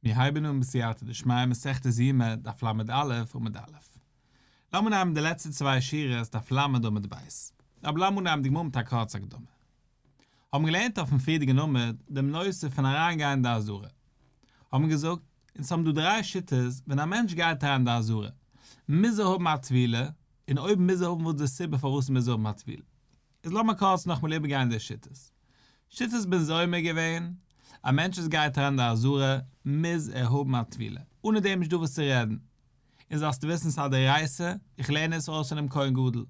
מיר הייבן אן בסייעתא דשמיא מסכת ז' עמוד דף ל א עמוד א'. לאמיר נעמען די לעצטע צוויי שורות דף ל עמוד ב'. אבער לאמיר נעמען די גמרא מיט א קורצע הקדמה. האבן געלערנט אויפן פריערדיגן עמוד דעם נושא פון אריינגיין אין די אזהרה. האבן געזאגט, אונז האבן דא דריי שיטות ווען א מענטש גייט אריין אין די אזהרה. מוז ער האבן א טבילה, און אויב מוז ער האבן וואס איז די סיבה פארוואס ער מוז האבן א טבילה. איז לאמיר קורץ נאכמאל איבערגיין די שיטות. שיטת בן זומא איז געווען, א מענטש וואס גייט אריין אין די עזרה מוז ער האבן א טבילה, אנע דעם איז נישט דא וואס צו רעדן. און זאלסט וויסן ס'איז א דאורייתא, איך לערן עס אויס פונעם כהן גדול.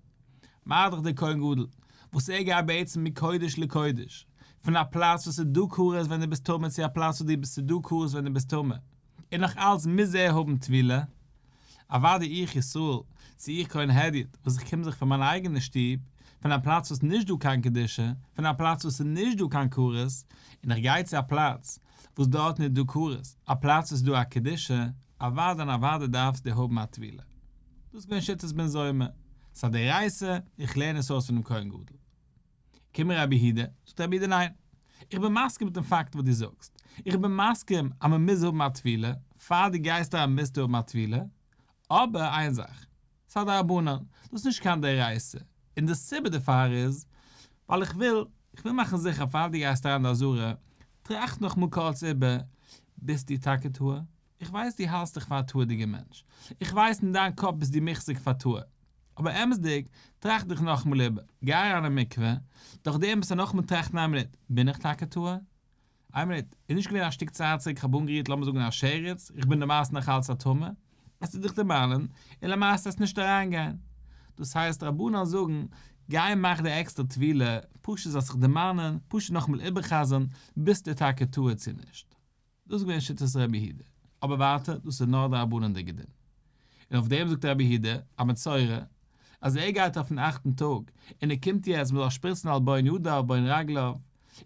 מרדכי דער כהן גדול, וואס ער גייט בעצם מקודש לקודש, פון א פלאץ וואס ס'איז דא קרית ווען דו ביסט טמא צו א פלאץ וואס ס'איז דא קרית ווען דו ביסט טמא, און נאך אלץ מוז ער האבן טבילה, אוואדי איך ישראל, צו איך כהן הדיוט, וואס איך קום זיך פון מיין אייגענע שטוב, פון א פלאץ וואס נישט דא קיין קדושה, פון א פלאץ וואס איז נישט דא קיין קרית, און איך גיי צו א פלאץ, וואס דארטן איז דא קרית, א פלאץ וואס איז דא א קדושה, אוואדי און אוואדי דארפסט די האבן א טבילה. דאס איז געווען שיטת בן זומא. סא די רייסע, איך לערן עס אויס פונעם כהן גדול. קום רבי יהודה, זאגט רבי יהודה ניין, איך בין מסכים מיטן פאקט וואס דו זאגסט, איך בין מסכים אז מען מוז האבן א טבילה, פאר דו גייסט אריין מוזטו האבן א טבילה, אבער איין זאך, ס'איז א דרבנן, דאס איז נישט קיין דאורייתא, און די סיבה דערפאר איז, ווייל איך וויל, איך וויל מאכן זיכער פאר דו גייסט אריין אין די עזרה, טראכט נאכמאל קורץ איבער, ביסטו טאקע טהור? איך ווייס דו האלסט דיך פאר א תאוה'דיגער מענטש, איך ווייס אין דיין קאפ ביסט דו מחזיק פאר תאוה, אבער אמת'דיג, טראכט דיך נאכאמאל איבער, גיי אריין אין מקווה, דאך דעם ביסט א נאכאמאל טראכטן איין מינוט, בין איך טאקע תאוה? איין מינוט, איז נישט געווען א שטיק צייט צוריק איך האב אנגערירט לאמיר זאגן א שרץ, איך בין למעשה נאך אלץ א טמא, עס טוט דיך דערמאנען, און למעשה עס נישט אריינגיין. דאס הייסט רבנן זאגן, גיי מאך די עקסטער טבילה, פשוט זאלסט דיך דערמאנען, פשוט נאכאמאל איבערחזר'ן, ביסטו טאקע תאוה צו נישט? דאס איז געווען שיטת ר' יהודה. אבער ווייטער, דאס איז נאר די רבנן'דיגע דין. און אויף דעם זאגט ר' יהודה, א מצורע, אז ער גייט אויפן אכטן טאג, און ער קומט יעצט, מ'זאל שפריצן על בון ידיו ובין רגליו,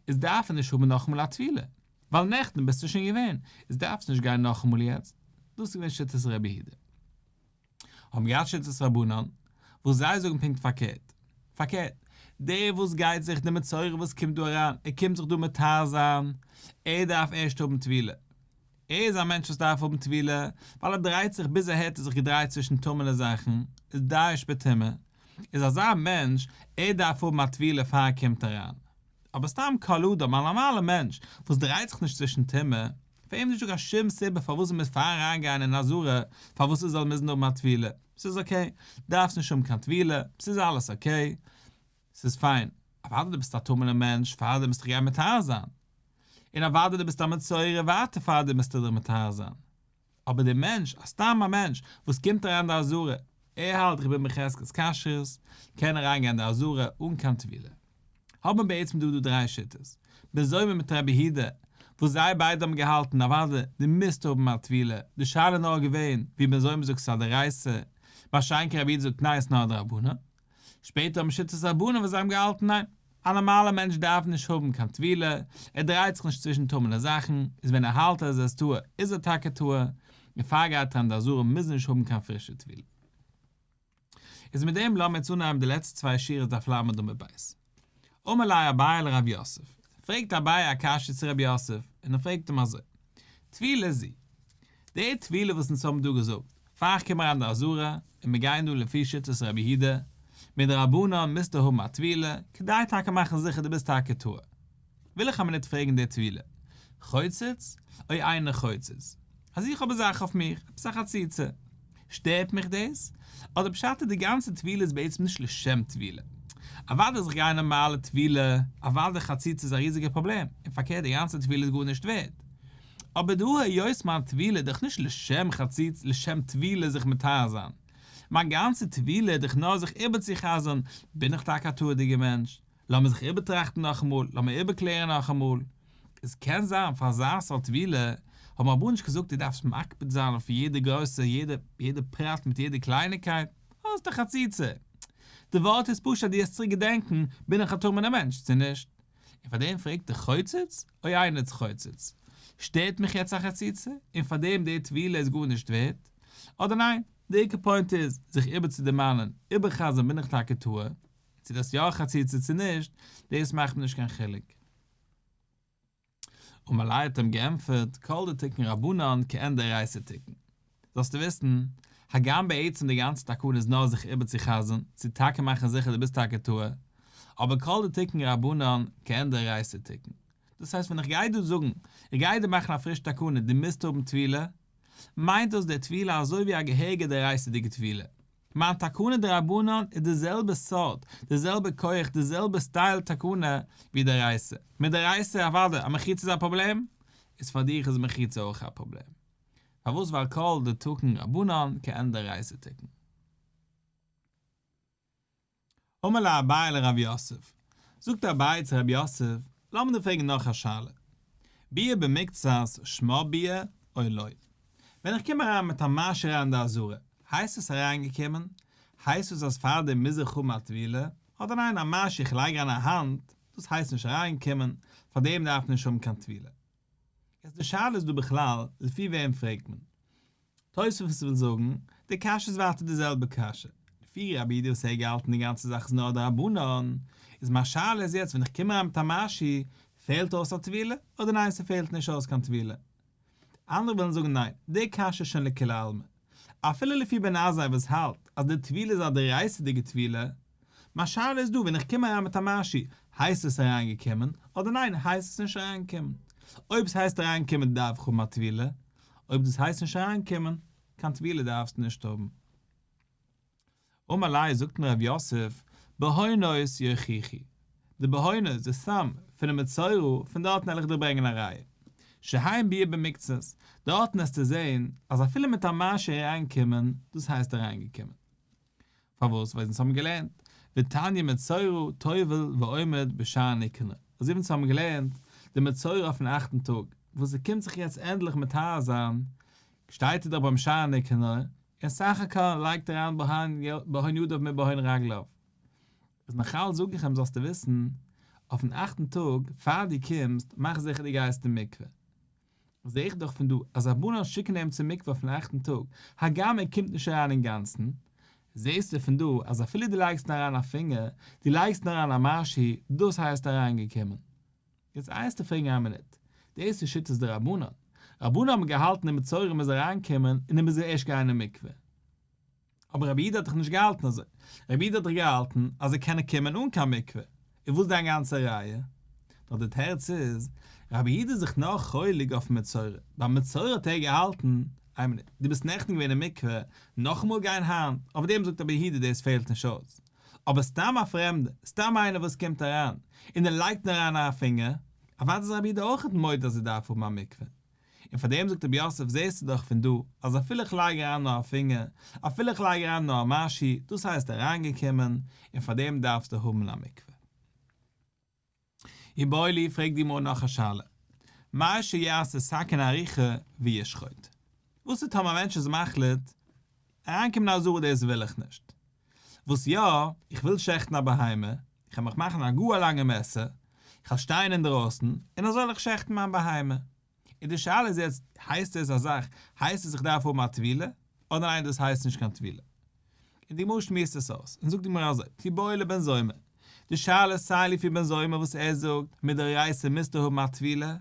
איז דארף ער נישט האבן נאכאמאל א טבילה. ווייל נעכטן ביסטו שוין געווען, איז דארפסטו נישט גיין נאכאמאל יעצט. דאס איז געווען שיטת ר' יהודה. האבן געהאט שיטת רבנן וואס זיי זאגן פונקט פארקערט, פארקערט, דער וואס גייט זיך די מצורע וואס קומט דא אריין, ער קומט זיך דא מטהר זיין, ער דארף ערשט האבן טבילה, ער איז א מענטש וואס דארף האבן טבילה, ווייל ער דרייט זיך, ביז אהער האט ער זיך געדרייט צווישן טמעלע זאכן, איז דאעש בטומאה, איז אזא מענטש, ער דארף האבן א טבילה פאר ער קומט אריין, אבער סתם קל אדם, א נארמאלע מענטש וואס דרייט זיך נישט צווישן טומאה, פאר אים איז נישטא קיין שום סיבה פארוואס ער מוז פארן אריינגיין אין א זארע פארוואס ער זאל מוזן האבן א טבילה, ס'איז אקעי, דארפסט נישט האבן קיין טבילה, ס'איז אלעס אקעי, ס'איז פיין, אוודאי דו ביסט א טמא'נער מענטש פאר דעם מוזטו גיין מטהר זיין, און אוודאי דו ביסט א מצורע ווייטער פאר דעם מוזטו דיך מטהר זיין. אבער דער מענטש, א סתם א מענטש, וואס קומט אריין אין די עזרה, ער האלט איך בין בחזקת כשרות, קען אריינגיין אין די עזרה אן קיין טבילה. האבן בעצם דא דא דריי שיטות, בין זומא מיט רבי הידא, וואס זיי ביידע האבן געהאלטן אוואדע דו מוזט האבן א טבילה, די שאלה איז נאר געווען, ווי בין זומא זאגט ס'איז א דאורייתא, מה שאין כן רבי הידא זאגט ניין ס'איז נאר א דרבנן. שפעטער האבן שיטת רבנים וואס זיי האבן געהאלטן ניין, א נארמאלער מענטש דארף נישט האבן קיין טבילה, ער דרייט זיך נישט צווישן טמא'נע זאכן, איז ווען ער האלט אז ער איז טהור איז ער טאקע טהור, און פארגייט אריין די אזהרה מוז נישט האבן קיין פרישע טבילה. איז מיט דעם לאמיר יעצט אנהייבן די לעצטע צוויי שורות דף לד עמוד ב'. אמר ליה אביי לרב יוסף, פרעגט אביי א קשיא צו רב יוסף, און ער פרעגט אים אזוי, טבילה זי, די טבילה וואס אונז האבן דא געזאגט, פאר כ'קום אריין די אזהרה, און מיר גייען דא לפי שיטת רבי יהודה, מדרבנן מוזטו האבן א טבילה, כדי טאקע מאכן זיכער דו ביסט טאקע טהור. וויל איך א מינוט פרעגן דער טבילה חוצץ, אוי איינער חוצץ אז איך האב אזאך אויף מיך, עפעס א חציצה, שטערט מיך דאס? אדער פשט איז די גאנצע טבילה איז בעצם נישט לשם טבילה? אוודאי זיך גיין נארמאלע טבילה, אוודאי חציצה איז א ריזיגע פראבלעם, און פארקערט די גאנצע טבילה איז גארנישט ווערד, אבער דא היות מיין טבילה איז דאך נישט לשם חציצה לשם טבילה זיך מטהר זיין, מיין גאנצע טבילה איז דאך נאר זיך איבערצוחזר'ן, בין איך טאקע א תורה'דיגער מענטש? לאמיר זיך איבערטראכטן נאכאמאל, לאמיר איבערקלערן נאכאמאל. עס קען זיין פאר אזא סארט טבילה האט מען אבער נישט געזאגט דו דארפסט מקפיד זיין אויף יעדע גרויסע יעדע יעדע פרט מיט יעדע קלייניקייט, אוי איז דאך חציצה. די ווארט איז פשוט אז דו האסט צוריק געדענקן בין איך א טמא'נער מענטש צו נישט. און פאר דעם פרעגט ער חוצץ? אוי איינער צו חוצץ? שטערט מיך יעצט א חציצה? און פאר דעם די טבילה איז גארנישט ווערט? אדער ניין, די עיקר פוינט איז זיך איבערצודערמאנען, איבערחזר'ן בין איך טאקע טועה? צו דאס יא חציצה צו נישט, דאס מאכט מיר נישט קיין חילוק. אמאליי האט אים געענטפערט כל דתיקן רבנן כעין דאורייתא תיקן. זאלסטו וויסן, הגם בעצם די גאנצע תקנה איז נאר זיך איבערצוחזר'ן, צו טאקע מאכן זיכער דו ביסט טאקע טועה, אבער כל דתיקן רבנן כעין דאורייתא תיקן. דאס הייסט ווען איך גיי דא זאגן, איך גיי דיר מאכן א פריש תקנה דו מוזט האבן טבילה, מיינט דאס דער טבילה אזוי ווי א געהעריגע דאורייתא'דיגע טבילה, מיין תקנה דרבנן איז די זעלבע סארט, די זעלבע כח, די זעלבע סטייל תקנה ווי דאורייסא. מיט דאורייסא אוודאי אז מחיצה איז א פראבלעם, איז פאר דיך איז מחיצה אויך א פראבלעם. פארוואס ווייל כל דתקן רבנן כעין דאורייסא תקן. אמר לאביי לרב יוסף, זאגט אביי צו רב יוסף, לאמיר דיר פרעגן נאך א שאלה, ביה במקצת שמע ביה אוי לא? ווען איך קום אריין מיט א מעשר אריין אין די אזהרה, הייסט עס אריינגעקומען? הייסט עס אז פארדעם מוז איך האבן א טבילה? אדער ניין א מעשר איך לייג אריין א האנט, דאס הייסט נישט אריינקומען, פארדעם דארף מען נישט האבן קיין טבילה? יעצט די שאלה איז דא בכלל לפי וועם פרעגט מען? תוספות וויל זאגן, די קשיא איז ווייטער די זעלבע קשיא, לפי רבי דער וואס ער האט געהאלטן די גאנצע זאך איז נאר א דרבנן, איז מיין שאלה איז יעצט ווען איך קום אריין מיט א משי, פעלט אויס א טבילה, אדער ניין ס'פעלט נישט אויס קיין טבילה? אנדערע וועלן זאגן ניין, די קשיא איז שוין לכולי עלמא. אפילו לפי בן עזאי וואס האלט אז די טבילה איז א דאורייתא'דיגע טבילה, מיין שאלה איז דא ווען איך קום אריין מיט א משי, הייסט עס אריין געקומען, אדער ניין הייסט עס נישט אריין געקומען? אויב עס הייסט אריין געקומען דארף איך האבן א טבילה, אויב דאס הייסט נישט אריין געקומען, קיין טבילה דארפסטו נישט האבן. אמאליי זאגט מיר ר' יוסף, בהונות יוכיחי, די בהונות, די סם, פונעם מצורע, פון דארטן העל איך דיר ברענגען א ראיה. שעהאין ביה ב מקצת, דארטן העסטו זעהן אז אפילו מיט א משי אריין געקומען, דאס הייסט אריין געקומען. פארוואס? ווייל זינט האבן מיר געלערנט ותניא מצורע טובל ועומד בשער נקנה, אזוי ווי אונז האבן געלערנט די מצורע אויפן אכטן טאג, וואס ער קומט זיך יעצט ענדליך מטהר זיין, שטייט ער דאך ביים שער נקנה, און סך הכל לייגט ער אריין בהון ידיו מיט בהון רגליו. איז נאכאלץ זאג איך אים זאלסטו וויסן, אויפן אכטן טאג, פאר דו קומסט, מאך זיכער דו גייסט אין מקווה. זעה איך דאך פון דא אז רבנן שיקן איהם צום מקווה אויפן אכטן טאג, הגם ער קומט נישט אריין אינגאנצן, זעהסטו פון דא אז אפילו דו לייגסט אריין א פינגער, דו לייגסט אריין א משהו, דאס הייסט אריינגעקומען. יעצט איינסטו פרעגן איין מינוט, דאס איז שיטת די רבנן, רבנן האבן געהאלטן אין מצרים איז אריינקומען און אים איז ער ערשט גיין אין מקווה, אבער רבי איד האט דאך נישט געהאלטן אזוי, רבי איד האט דאך געהאלטן אז זיי קענען קומען אן קיין מקווה, איז וואס דיין גאנצע ראיה? נאר די תירוץ איז, רבי איד איז זיך נאר חולק אויפן מצורע, ביי מצורע האט ער געהאלטן, איין מינוט, דו ביסט נעכטן געווען אין מקווה, נאכאמאל גיין היינט? אויף דעם זאגט רבי איד דאס פעלט נישט אויס, אבער סתם א פרעמדער, סתם איינער וואס קומט אריין, און ער לייגט נאר אריין א פינגער, אוודאי איז רבי איד אויכעט מודה אז ער דארף האבן א מקווה, און פאר דעם זאגט רבי יוסף זעסטו דאך פון דא אז אפילו איך לייג אריין נאר א פינגער, אפילו איך לייג אריין נאר א משי, דאס הייסט אריינגעקומען, און פאר דעם דארפסטו האבן א מקווה. יבואו לי פרעגט די גמרא נאך א שאלה, מאי שיעשה סכין אריכה וישחוט, וואס איז טאמער א מענטש איז מחליט אריינקומען אין א זאל דאס וויל איך נישט, וואס יא, איך וויל שעכטן א בהמה, איך וועל מיך מאכן א גאר לאנגע מעסער, איך וועל שטיין אינדרויסן, און אזוי וועל איך שעכטן מיין בהמה. און די שאלה איז יעצט, הייסט עס א זאך, הייסט עס איך דארף האבן א טבילה, אדער ניין דאס הייסט נישט קיין טבילה. און די גמרא שמועסט עס אויס, און זאגט די גמרא אזוי, כי באו לבן זומא, די שאלה איז סיי לפי בן זומא וואס ער זאגט, מדאורייסא מוזטו האבן א טבילה,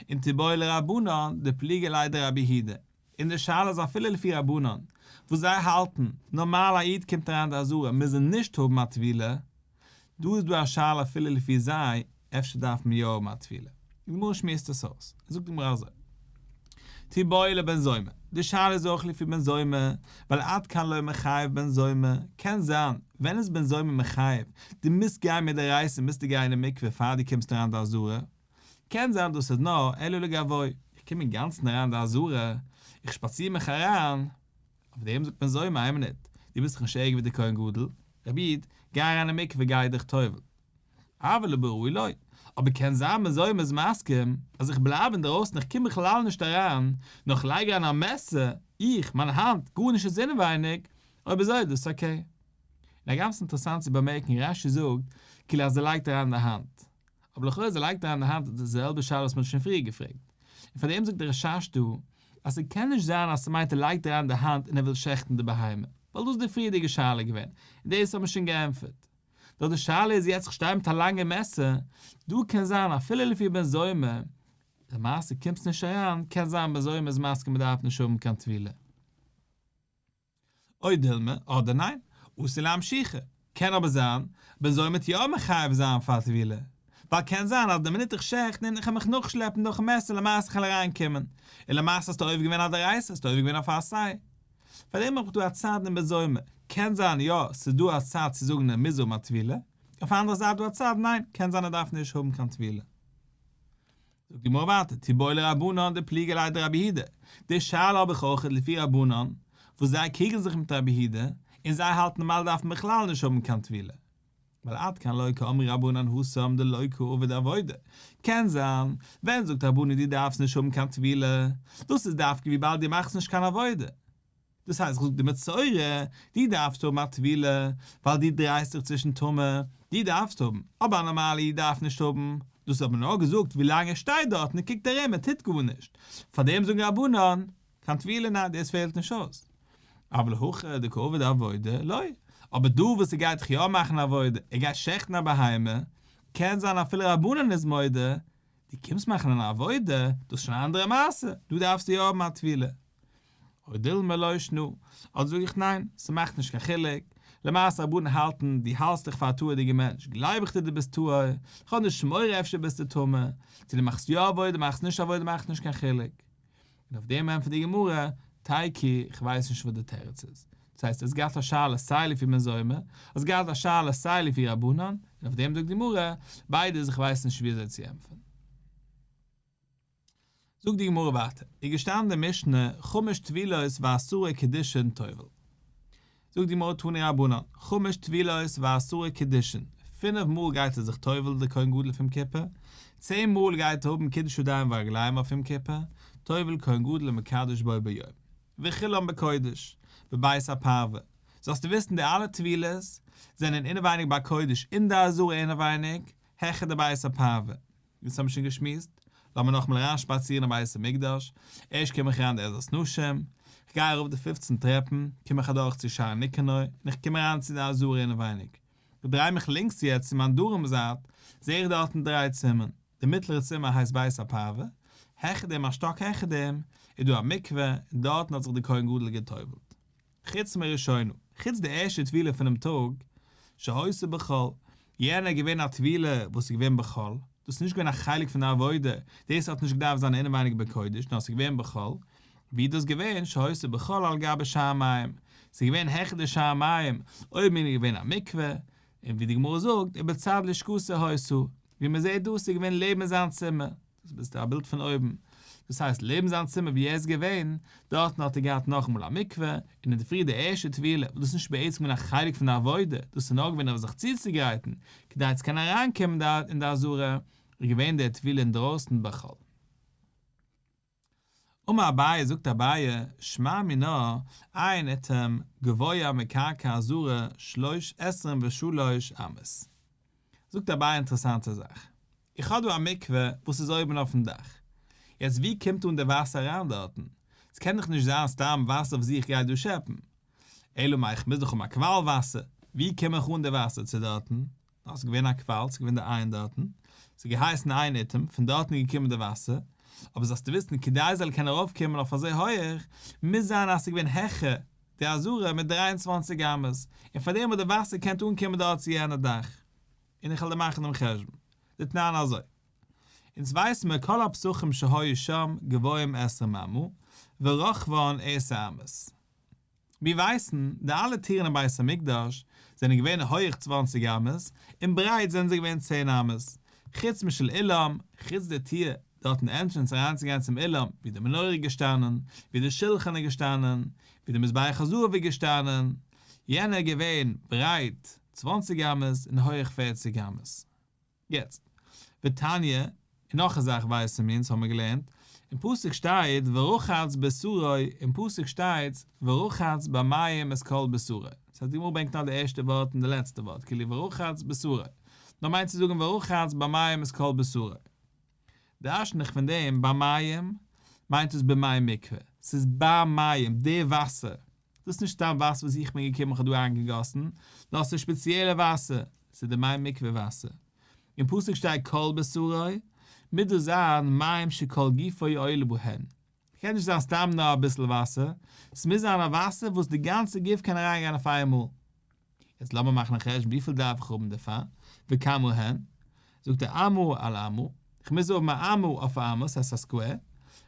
און תבואה לרבנן, די פליגעליי דרבי הידע. און די שאלה איז אפילו לפי רבנן וואס זיי האלטן, נארמאל א איד קומט אריין די אזהרה מוז ער נישט האבן א טבילה, דא איז דא א שאלה אפילו לפי זיי אפשר דארף מען יא האבן א טבילה, די גמרא שמועסט עס אויס, זאגט די גמרא אזוי, תו באי לבן זומא, די שאלה איז אויך לפי בן זומא, ווייל עד כאן לא מחייב בן זומא, קען זיין, ווען איז בן זומא מחייב, די מוזט גיין מדאורייסא מוזטו גיין אין מקווה פאר די קומסט אריין די אזהרה, קען זיין דאס איז נאר אלו לגבוי, איך קום אינגאנצן אריין אין די אזהרה, איך שפאציר מיך אריין, אויף דעם זאגט מען זוימער איי מינוט, דו ביסט דאך נישט ערגער ווי דער כהן גדול, רבי איד, גיי אריין אין מקווה און גיי דיך טובל. אבל לא בראוי לו, אבער קען זיין מען זוימער איז מסכים אז איך בלייב אינדערויסן איך קום בכלל נישט אריין, נאר איך לייג אריין א מעסער, איך, מיין האנט, גארנישט איז אינעווייניג, אויב אזוי איז דאס אקעי. און הגם ס'איז אינטערעסאנט צו באמערקן רש י זאגט כאילו אז ער לייגט אריין די האנט, אבער לכאורה זי לייגט אריין די האנט אויף די זעלבע שאלה וואס מען האט שוין פריער געפרעגט, און פאר דעם זאגט דער רשש דא אז ס'קען נישט זיין אז ס'מיינט ער לייגט אריין די האנט און ער וויל שעכטן די בהמה, ווייל דאס איז די פריערדיגע שאלה געווען, און דאס האט מען שוין געענטפערט. נאר די שאלה איז יעצט איך שטיי מיט א לאנגע מעסער, דא קען זיין אפילו לפי בן זומא, למעשה קומט עס נישט אריין, קען זיין בן זומא איז מסכים מען דארף נישט האבן קיין טבילה. אוי דילמא, אדער ניין, אסור להמשיכה. קען אבער זיין, בין זומערט יא מחייב זיין פאר טבילה, ווייל קען זיין אז די מינוט איך שעכט און איך העל מיך נאכשלעפן דורכן מעסער למעשה כ'על אריין קומען, און למעשה האסטו עובר געווען א דאורייתא, האסטו עובר געווען אויף א עשאי. פארדעם האב איך דא א צד אין בין זומער, קען זיין יא ס'איז דא א צד צו זאגן ער מוז האבן א טבילה, אויף א אנדערע זייט דא א צד ניין קען זיין ער דארף נישט האבן קיין טבילה. זאגט די גמרא ווייטער, תיבאי לרבנן דפליגי ליה דרביהודה, די שאלה האב איך אויכעט לפי רבנן, וואס זיי קריגן זיך מיט רביהודה, און זיי האלטן נארמאל דארף מען בכלל נישט האבן קיין טבילה, ווייל עד כאן לא כאמרי רבנן הוא סם דלא כאובה דעבודה, קען זיין, ווען זאגט רבנן דו דארפסט נישט האבן קיין טבילה, דאס איז דווקא וויבאלד דו מאכסט נישט קיין עבודה, דאס הייסט כ'זאג די מסורה, דו דארפסט האבן א טבילה ווייל דו דרייסט דיך צווישן טומאה, דו דארפסט האבן, אבער א נארמאלע איד דארף נישט האבן, דאס האט מען נאר געזאגט ווילאנג ער שטייט דארטן און קוקט ארום און טוט גארנישט, פארדעם זאגן רבנן, קיין טבילה ניין דאס פעלט נישט אויס, אבל הכא דקא עובד עבודה לא, אבער דא וואס ער גייט דאך יא מאכן עבודה, ער גייט שעכטן א בהמה, קען זיין אפילו רבנן איז מודה, דו קומסט מאכן אן עבודה, דאס איז שוין א אנדערע מעשה, דא דארפסטו יא האבן א טבילה. אוי דילמא לא ישנו, אט זאג איך ניין, ס'מאכט נישט קיין חילוק, למעשה רבנן האלטן דו האלטסט דיך פאר א תורה'דיגע מענטש, גלייב איך דיר דו ביסט טהור, איך האב נישט מורא אפשר ביסטו טמא, צו דו מאכסט יא עבודה מאכסט נישט עבודה מאכט נישט קיין חילוק. און אויף דעם ענטפערט די גמרא, טייקי, איך ווייס נישט וואס די תירוץ איז, דאס הייסט האסט געהאט א שאלה סיי לפי מי זעמא, האסט געהאט א שאלה סיי לפי רבנן, און אויף דעם זאגט די גמרא, ביידע איז איך ווייס נישט וויאזוי צו ענטפערן. זאגט די גמרא ווייטער, איז געשטאנען די משנה חמש טבילות ועשרה קידושין טובל, זאגט די גמרא תני רבנן, חמש טבילות ועשרה קידושין, פינף מאל גייט ער זיך טובל די כהן גדול אויף יום כיפור, צען מאל גייט ער האבן קידוש ידיים ורגליים אויף יום כיפור, טובל כהן גדול ומקדש בו ביום, וכולן בקודש, בבית הפרווה, זאלסטו וויסן די אלע טבילות זענען אינעווייניג ביי קודש אין די עזרה אינעווייניג, העכער די בית הפרווה. אונז האבן שוין געשמועסט, לאמיר נאכאמאל אריינשפאצירן אין בית המקדש, ערשט קום איך אריין די עזרת נשים, כ'גיי ארויף די פופצן טרעפן, קום איך אדורך צו שער ניקנור, און איך קום אריין צו די עזרה אינעווייניג. כ'דריי מיך לינקס יעצט צו מיין דרום זייט, זע איך דארטן דריי צימערן, די מיטלערע צימער הייסט בית הפאווע, העכער דעם א שטאק העכער דעם, איז דא א מקווה, און דארטן האט זיך די כהן גדול גע'טובל'ט. חוץ מראשינו, חוץ די ערשטע טבילה פונעם טאג, שהיתה בחול, יענע איז געווען א טבילה וואס איז געווען בחול, דאס איז נישט געווען א חלק פון די עבודה, דאס האט נישט געדארפט זיין אינעווייניג בקודש, נאר עס איז געווען בחול, ווי איז דאס געווען, שהיתה בחול על גבי שער מים, עס איז געווען העכער די שער מים, אויבן אן איז געווען א מקווה, און ווי די גמרא זאגט, ובצד לשכות הויסו, ווי מען זעט דאס איז געווען לעבן זיין צימער, דאס ביסטו א בילד פון אויבן, דאס הייסט לעבן זיין צימער ווי ער איז געווען, דארטן האט ער געהאט נאכאמאל א מקווה, און אין די פרי די ערשטע טבילה, וואס דאס איז נישט בעצם געווען א חלק פון די עבודה, דאס איז נאר געווען אויף זיך צוצוגרייטן, כדי צו קענען אריינקומען אין די עזרה, איז געווען די טבילה אינדרויסן בחול. אמר אביי, זאגט אביי, שמע מינה, עיין אתמ, גבוה מקרקע הזרה שלוש עשרים ושלוש אמות. זאגט אביי א אינטערעסאנטע זאך. איך האב דא א מקווה וואס איז אויבן אויפן דאך. יעצט ווי קומט אן די וואסער אריין דארטן? ס'קען דאך נישט זיין סתם וואסער וואס איך גיי דא שעפן. אלא מאי כ'מוז דאך האבן א קוואל וואסער. ווי קום איך אן די וואסער צו דארטן? דאָרט איז געווען אַ קוואַל, ס'איז געווען דער אײַן דאָרטן, ס'האָט געהייסן אײַן איטעם, פֿון דאָרטן איז געקומען דער וואַסער. אָבער זאָלסטו וויסן, כּדי ס'זאָל קענען אַרויפֿקומען אויף אַזוי הויך, מוז זײַן, אַז ס'איז געווען העכער די אַזאָרע מיט דרײַ און צוואַנציק אמות, און פֿאַר דעם האָט דער וואַסער געקענט אָנקומען דאָרט צו יענער דאַך. און איך וועל דיר מאַכן דעם חשבון. זיי טענהן אַזוי. אונדז ווייסן מיר, כּל הפּסחים שהיו שם, גבהים עשרה ממה, ורחבן עשר אמות. מיר ווייסן, די אלע טירן אין בית המקדש זענען געווען הויעך צוואַנציק אמות, און ברייט זענען זיי געווען צען אמות, חוץ משל אילם, חוץ די טיר דארטן ענטרענס אריינצוגיין צום אילם, ווי די מנורה איז געשטאנען, ווי די שולחן איז געשטאנען, ווי די מזבח הזהב איז געשטאנען, יענע איז געווען ברייט צוואַנציק אמות און הויעך פֿערציק אמות. יעצט, ותניא, און נאך א זאך ווייסן מיר אונז האמיר געלערנט, אין פסוק שטייט ורחץ בשרו, אין פסוק שטייט ורחץ במים את כל בשרו, דאס הייסט די גמרא ברענגט נאר די ערשטע ווארט און די לעצטע ווארט כאילו ורחץ בשרו, דא מיינט צו זאגן ורחץ במים את כל בשרו. דרש'ן איך פון דעם ביי מים, מיינט עס במאי מקווה, ס'איז ביי מים, די וואסער, דאס איז נישט סתם וואסער וואס איך בין געקומען איך האב דא אריינגעגאסן, דאס איז ספעציעלע וואסער, ס'איז די מים מקווה וואסער. אין פסוק שטייט כל בשרו, מוז דאס זיין מים שכל גופו עולה בהן, ס'קען נישט זיין סתם נאר אביסל וואסער, ס'מוז זיין א וואסער וואס די גאנצע גוף קען אריינגיין אויף איינמאל. יעצט לאמיר מאכן א חשבון וויפיל דארף איך האבן דערפאר, וכמה הן? זאגט ער אמה על אמה, איך מוז האבן א אמה אויף א אמה, ס'הייסט א סקווער,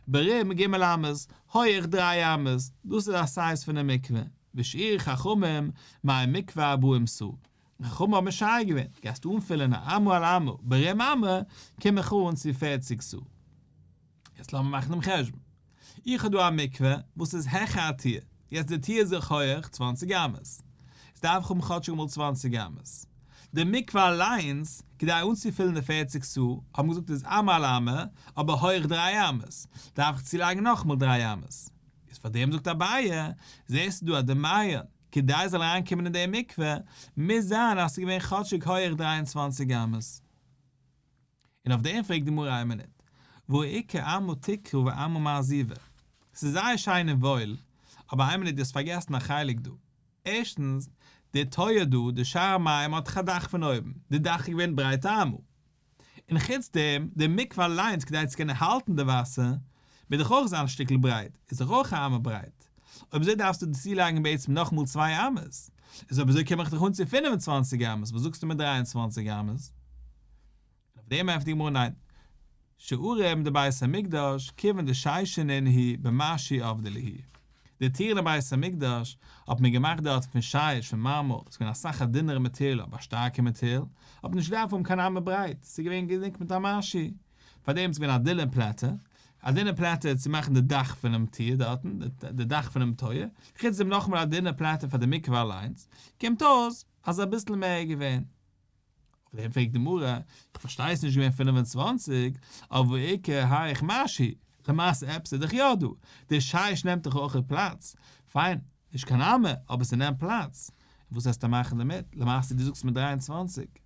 ברום ג' אמות, הויעך דריי אמות, דאס איז א סייז פון א מקווה, ושאר חכמים מאי מקווה ארבעים סאה, די חכמים האבן משער געווען, גייסטו אנפילען א אמה על אמה, ברום אמה, קום איך אן צו פֿערציק סאה. יעצט לאמיר מאכן דעם חשבון. איך האב דא א מקווה וואס איז העכער א טיר. יעצט די טיר איז זיך הויעך צוואַנציק אמות. עס דארף איך האבן כאטשיג אמאל צוואַנציק אמות. די מקווה אליינס, כדי אנצופילן די פֿערציק סאה, האבן געזאגט איז אמה על אמה, אבער הויעך דריי אמות. דארף איך צולייגן נאכאמאל דריי אמות. איז פאר דעם זאגט אביי, זעסטו דא אז די מיה, כדי עס זאל אריינקומען אין די מקווה, מוז זיין אז עס איז געווען כאטשיג הויעך דריי און צוואַנציק אמות. און אויף דעם פרעגט די גמרא איין מינוט, והעיקר עמא תקרא ועמא מעזיבה, ס'איז זייער שיין און וואויל, אבער איין מינוט דו האסט פארגעסן א חלק דא, ערשטנס, דער טויער דא, דער שער המים האט דאך א דאך פון אויבן, די דאך איז געווען ברייטער עמא, און חוץ דעם, דער מקווה אליינס כדי צו קענען האלטן די וואסער, מוז דאך אויך זיין א שטיקל ברייט, איז דאך אויך א אמה ברייט, אויב אזוי דארפסטו דאס צולייגן בעצם נאכאמאל צוויי אמות, איז אויב אזוי קום איך דיך אן צו פֿינף און צוואַנציק אמות, וואס זאגסטו מיט דרײַ און צוואַנציק אמות? און אויף דעם ענטפערט די גמרא ניין, שערים דבית המקדש כיוון דשיישינן היא במשי אבדה ליהי, די טירן אין בית המקדש האט מען געמאכט דארט פון שיש פון מארמאר, ס'איז געווען אסאך א דינערע מאטעריאל אבער א שטארקע מאטעריאל, האט מען נישט געדארפט האבן קיין אמה ברייט, ס'איז געווען געדעקט מיט א משי, פאר דעם איז געווען א דינע פלאטע, א דינע פלאטע צו מאכן די דאך פונעם טיר דארטן, די דאך פונעם טויער, חוץ דעם נאכאמאל א דינע פלאטע פאר די מקווה אליינס, קומט אויס אז אביסל מער איז געווען. אויף דעם פרעגט די גמרא, איך פארשטיי ס'איז נישט געווען פֿינף און צוואַנציק, אבער עיקר היכ משי, למעשה עפעס איז דאך יא דא, די שיש נעמט דאך אויך פלאץ, פיין, נישט קיין אמה, אבער ס'נעמט פלאץ, און וואס העסטו מאכן דערמיט, למעשה דו זאגסט מיט דרײַ און צוואַנציק.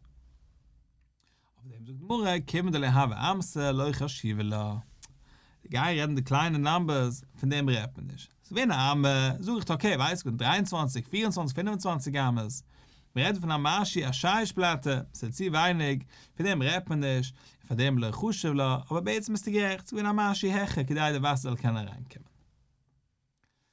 אויף דעם זאגט גמרא, כיוון דלא הוה אמסא לא חשיבא לה, גיי רעדן די קליינע נאמבערס, פון דעם רעדט מען נישט, ס'איז געווען א אמה, זאג איך אקעי ווייס איך געווען דריי און צוואַנציק, פֿיר און צוואַנציק, פֿינף און צוואַנציק אמות, מען רעדט פון א משי א שייש פלאטע, ס'איז צו ווייניג, פון דעם רעדט מען נישט, און פאר דעם לא חשיב לה, אבער בעצם ביסטו גערעכט, ס'איז געווען א משי העכער כדי די וואסער זאל קענען אריינקומען.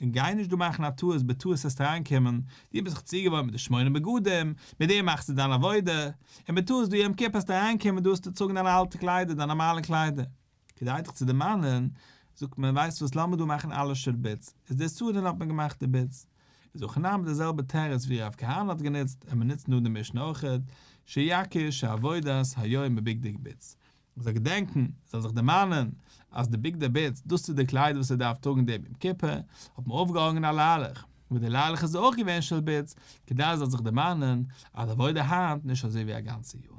און גיי נישט דא מאכן א טעות בטעות העסטו אריינקומען, דו ביסט זיך צוגעוואוינט מיט די שמונה בגדים, מיט דעם מאכסטו דיין עבודה, און בטעות דא יום כיפור העסטו אריינקומען דא האסטו צוטראגן דיינע אלטע קליידער, דיינע נארמאלע קליידער. כדי דיך צו דערמאנען, זאגט מען, ווייסט וואס לאמיר דא מאכן אלע שול בידס, איז דאס צו דאן האט מען געמאכט די בידס. איז אויך אין ארמ ד די זעלבע תירוץ ווי רב כהנא האט גענוצט, און מען נוצט נאך די משנה אויך, שיקיש העבודת היום בבגדי בידס, מען זאל געדענקן, ער זאל זיך דערמאנען, אז די בגדי בית, דאס איז די קליידער וואס ער דארף טראגן דעם יום כיפור, האט מען אויפגעהאנגען א ליילעך, וואס די ליילעך איז אויך געווען של בית, כדי ער זאל זיך דערמאנען, אז עבודה היינט נישט אזוי ווי א גאנצע יאר.